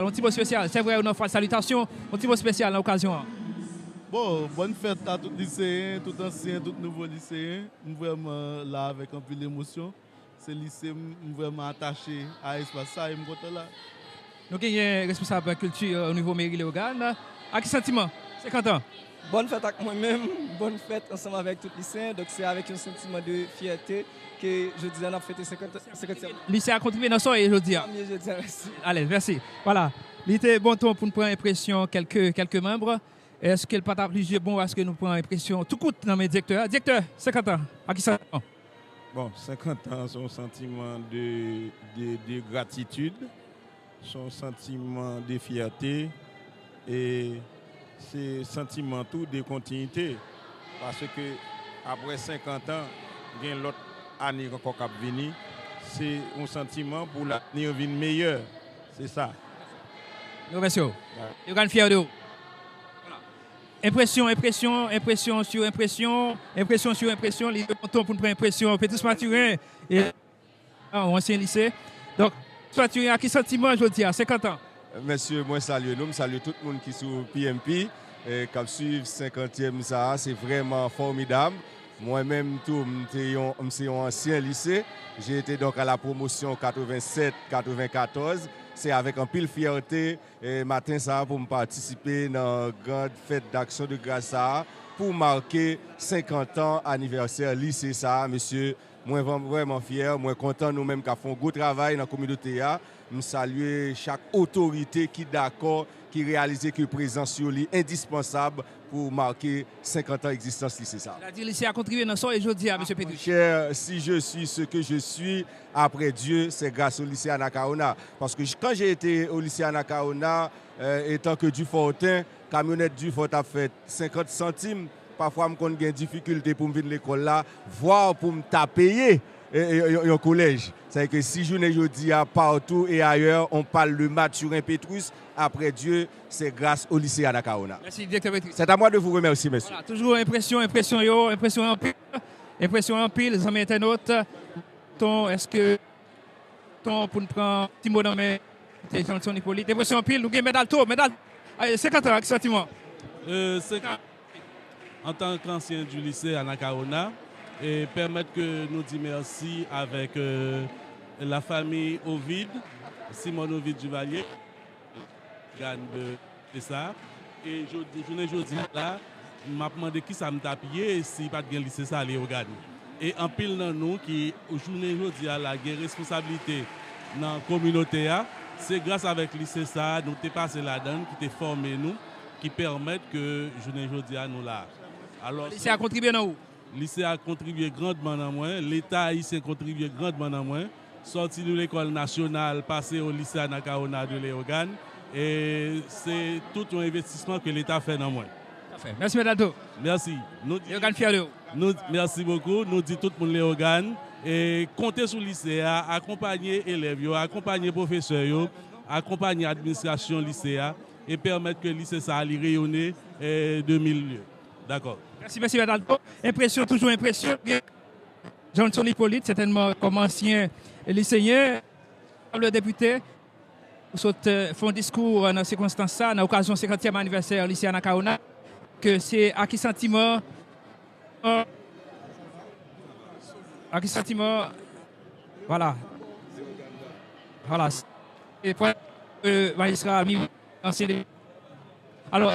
Yon ti mo spesyal, sè vrè yo nan fwa salitasyon, yon ti mo spesyal nan okazyon an. Bon, bòn fèt a tout liseyen, tout ansyen, tout nouvo liseyen. M vrèman la avèk anpil emosyon. Se lise m, m vrèman atache a espas sa e m kontan la. Nou genyen responsab kilti o nivo meri Leyogàn. Ak ki santiman? 50 an! Bòn fèt ak mwen menm, bòn fèt ansanm avèk tout Lisyen. Donk se avèk yon santiman de fyète ke jodi a n ap fete 50 ane. Lisya kontribiye nan soyè jodi a. Soyè jodi a, mèsi. Alèz, mèsi. Vwala. Li te bon ton pou n pran enpresyon kèlke, kèlke manb. Èske l pa ta plis je bon aske nou pran enpresyon tou kout nan men Direktè a? Direktè, 50 an, a ki santiman w? Bon, 50 an se yon santiman de, de, de gratitid. Se yon santiman de fyète e se santiman tou de kontinyite paske apre senkant an gen lòt ane ankò k ap vini. Se yon santiman pou lavni vin meyè. Se sa. Nou remèsye w. Yogann fyè de ou. Enpresyon, enpresyon, enpresyon sou enpresyon, enpresyon sou enpresyon, li te bon ton pou n pran enpresyon. Petrus Mathurin. An ou ansyen lise. Donk, Tuatuin a ki santiman jodi a, 50 an? Mesye, mwen salye nou, m salye tout moun ki sou PMP, k ap suiv senkantyèm sa a. Se vrèman fòmidab. Mwen menm tou, m te yon, m se yon ansyen lise. J'ai été donc à la promotion 87, 94. Se avèk anpil fyète, maten sa a, pou m patisipe nan grand fèt d'action de grâce sa a, pou make 50 ans anivèsè lise sa a, mesye. Mwen vrèman fyè, mwen kontan nou menm kap fè yon gwo travay nan kominote a. M salye chak otorite ki dakò, ki reyalize ke prezans yo li endispansab pou make 50 an egzistans Lise sa. Sètadi Lise a kontribye nan sa w ye jodi a, Mesye Petri? Monchè, si je suis ce que je suis après Dieu, c'est grâce au Lycée Anacaona. Paske kan j'ai été au Lycée Anacaona, etant que Dufortain, Kamyonèt Dufort ap fè 50 santim, pafwa m konn gen difikilte pou m vin lekòl la, vwa pou m ta peye yon kolèj. Sa vle di ke si jounen jodi a partout et ailleurs on parle de Mathurin Pétrus, après Dieu, c'est grâce au lycée Anacaona. Mèsi Direktè Pétrus. C'est à moi de vous remercier, mèsi. Vwala, toujou enpresyon, enpresyon yo, enpresyon anpil, enpresyon anpil zanmi entènot. Ton, èske. Ton poun pran ti mo nan men Mesye Johnson Hyppolite depresyon anpil nou gen Mèdal to Mèdal 50 an ak santiman. 50 an antan k ansyen di lise Anakawona pèmèt ke nou di mèsi avèk la famiy Ovide Simon Ovide Duvalier. Gad de sa. E jodi, jounen jodi a la, m ap mande ki sa m t ap ye si pa t gen Lise sa Leyogàn. E anpil nan nou ki jounen jodi a la gen responsablite nan kominote a, se gras avèk Lise sa a nou te pase ladan l ki te fòme nou, ki pèmèt ke jounen jodi a nou la a. Alòs. Lise a kontribye nan ou? Lise a kontribye grandman nan mwen, Leta ayisyen kontribye grandman nan mwen, sòti nou lekòl nasyonal pase o Lise Anakawona de Leyogàn, e se tout yon envestisman ke Leta fè nan mwen. Pafè. Mèsi Mèt Alto. Mèsi. Nou di. Leyogàn fyè de ou. Nou, mèsi bokou. Nou di tout moun Leyogàn e konte sou Lise a akonpanye elèv yo, akonpanye pwofesè yo, akonpanye administrasyon Lise a e pèmèt ke Lise sa a li reyone de mil lye. Dakò. Mèsi Mesye Bernardo. Enpresyon toujou enpresyon. Johnson Hyppolite, sètènman kòm ansyen liseyen, onorab depite, ou sot fè yon diskou nan sikonstans sa, nan okazyon senkantyèm anivèsè lise Anakawona, ke se a ki santiman, a ki santiman, vwala, vwala, se pwen majistra Miroir, ansyen depite, alò,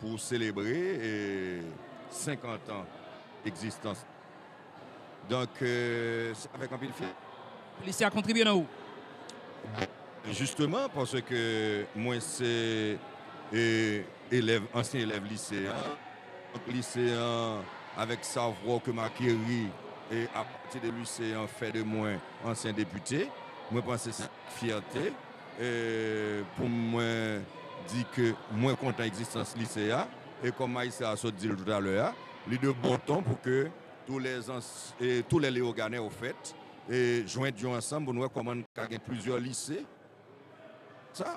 Pou selebre 50 an egzistans donk se avèk anpil fyète. Polisye a kontribye nan ou? Jisteman paske mwen se elèv ansyen elèv lise a donk lise a avèk savwa ke m akeri apati de lise a fè de mwen ansyen depite mwen panse se avèk fyète. E pou mwen di ke mwen kontan egzistans lise a, e kòm Maïssa a sot di l toutalè a, li de bon ton pou ke tou lè tou lè Leyoganè yo fèt, e jwent yo ansanm pou nou wè kòman n ka gen plizyè lise. Sa.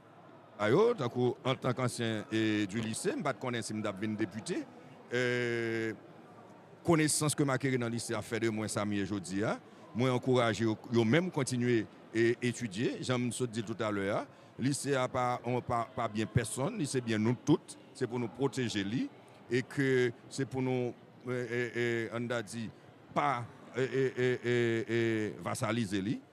A yo, tankou antan kansyen du lise, m pa t konnen si m t ap vin depite. Konesans ke m akeri nan lise a fè de mwen sa m ye jodi a. Mwen ankouraje yo, yo menm kontinye etidye. Jan m sot di l toutalè a, lise a pa byen pèsonn, li se byen nou tout. Se pou nou pwoteje li e ke se pou nou, an n ta di, pa vasalize li.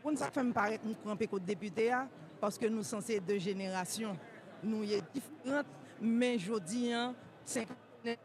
Konn sak fèm parèt m kanpe kot depite a paske nou sanse 2 jenerasyon nou ye diferant men jodi an 50 ane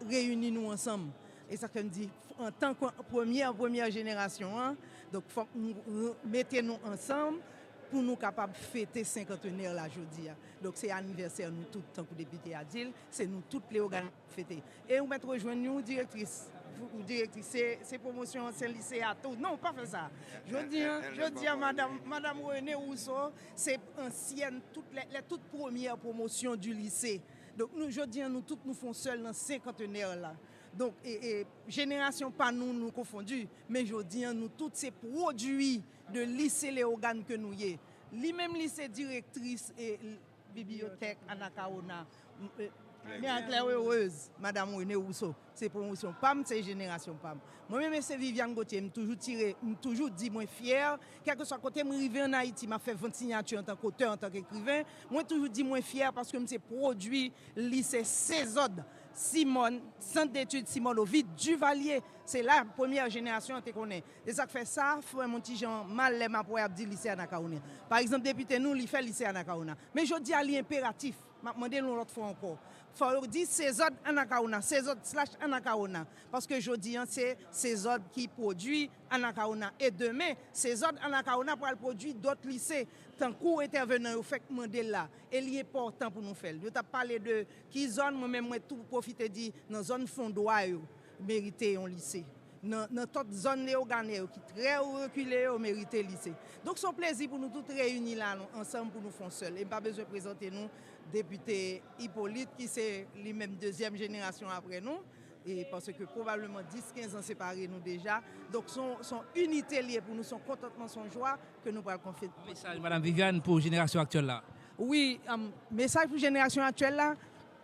reyini nou ansanm e sak fèm di antan ke premyè premyè jenerasyon an donk fòk nou mete nou ansanm pou nou kapab fete senkantenè la jodi a donk se anivèsè nou tout tankou depite a dil se nou tout pleoganize Fete. E ou mèt rejwenn yon direktris, yon direktris se pwomosyon se lise a tou. Non, pa fè sa. Jodi an, jodi an madam, madam Renée Rousseau se ansyèn tout lè, lè tout premyè pwomosyon di lise. Donk nou jodi an nou tout nou fon sèl nan senkantenè la. Donk e, e jenerasyon pa nou nou konfondi, men jodi an nou tout se pwodui de lise Léogâne ke nou ye. Li menm li se direktris e. Bibliyotèk Anakawona Men anklè erez madam Rene Wouso se pwomosyon pa m se jenerasyon pa m Mwen menm e se Viviane Gauthier m toujou tire m toujou di mwen fyè kèlkeswa kote m rive an Ayiti m ap fè vant sinyati antank otè antank ekriven mwen toujou di mwen fyè paske m se pwodui lise Sezòd Simòn Centre d'études Simone Ovide Duvalier se la premyè jenerasyon an te konnen E sak fè sa fèm on ti jan mal lè map wè yap di lise Anakawona. Pa egzanp depite nou li fè lise Anakawona. Men jodi a li enperatif, map mande l on lòt fwa ankò, fò yo di Sezòd Anakawona, Sezòd slash Anakawona. Paske jodi an se Sezòd ki pwodui Anakawona. E demen Sezòd Anakawona pral pwodui dòt lise. Tankou entèvenan yo fèk mande l la. E li enpòtan pou nou fè l. Yo tap pale de ki zòn, mwen menm mwen tou pwofite di nan zòn Fondwa yo. merite yon lise nan tot zòn Leogane yo ki trè rekile yo merite lise donk son plezi pou nou tout reyini la nou ansanm pou nou fon sèl em pa bezwen prezante nou depite Hyppolite ki se li menm dezyèm jenerasyon aprè nou e paske pwobableman 10 15 an separe nou deja donk son inite liye pou nou son kontantman son jwa ke nou pral konfye yon mesaj madam Viviane pou jenerasyon aktyèl la wi mesaj pou jenerasyon aktyèl la.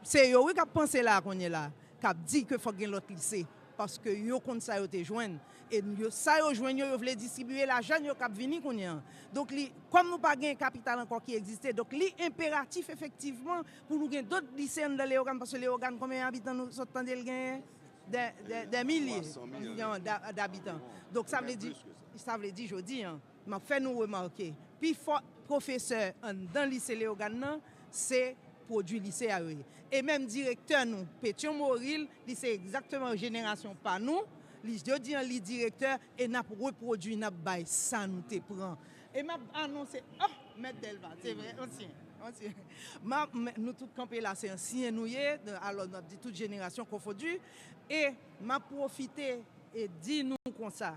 Se yo wi kap panse la kounye la kap di ke fok gen lot lise paske yo konn sa yo te jwenn e sa yo jwenn yo yo vle distribiye lajann yo kap vini kounye an donk li kom nou pa gen kapital anko ki egziste donk li enperatif efektivman pou nou gen dot lise anndan Leyogàn paske Leyogàn konbyen abitan nou sot tande li genyen dè milye dabitan donk sa vle di sa vle di jodi an. M ap fè nou remake, pi fò pwofesè anndan lise Leyogàn nan, se pwodui lise a yo ye. E menm direktè nou, Petyon Moril, li se egzakteman jenerasyon pa nou, li jodi an li direktè, e n ap repwodui, n ap bay sa nou te pran. E m ap anonse, oh! Mèt Dèlva, se vre, ansyen, ansyen. M ap, nou tout kanpe la, se ansyen nou ye, alò nou ap di tout jenerasyon konfondi, e m ap pwofite e di nou konsa.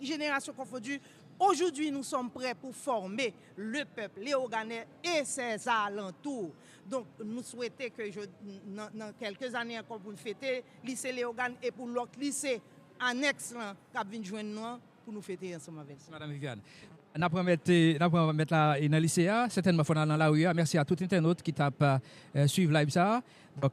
Générations confondues, Aujourd'hui nous sommes prêts pour former le peuple Léogânes et ses alentours. Donk nou swete ke nan kèlke zane ankò pou n fete Lise Léogâne e pou lòt lise anèks lan k ap vin jwenn nou an pou nou fete ansanm avèk. Mèsi madam Viviane. N ap remèt n ap remèt la nan lise a. Sètènman fò n al nan lari a. Mèsi a tout entènot ki t ap swiv live sa a.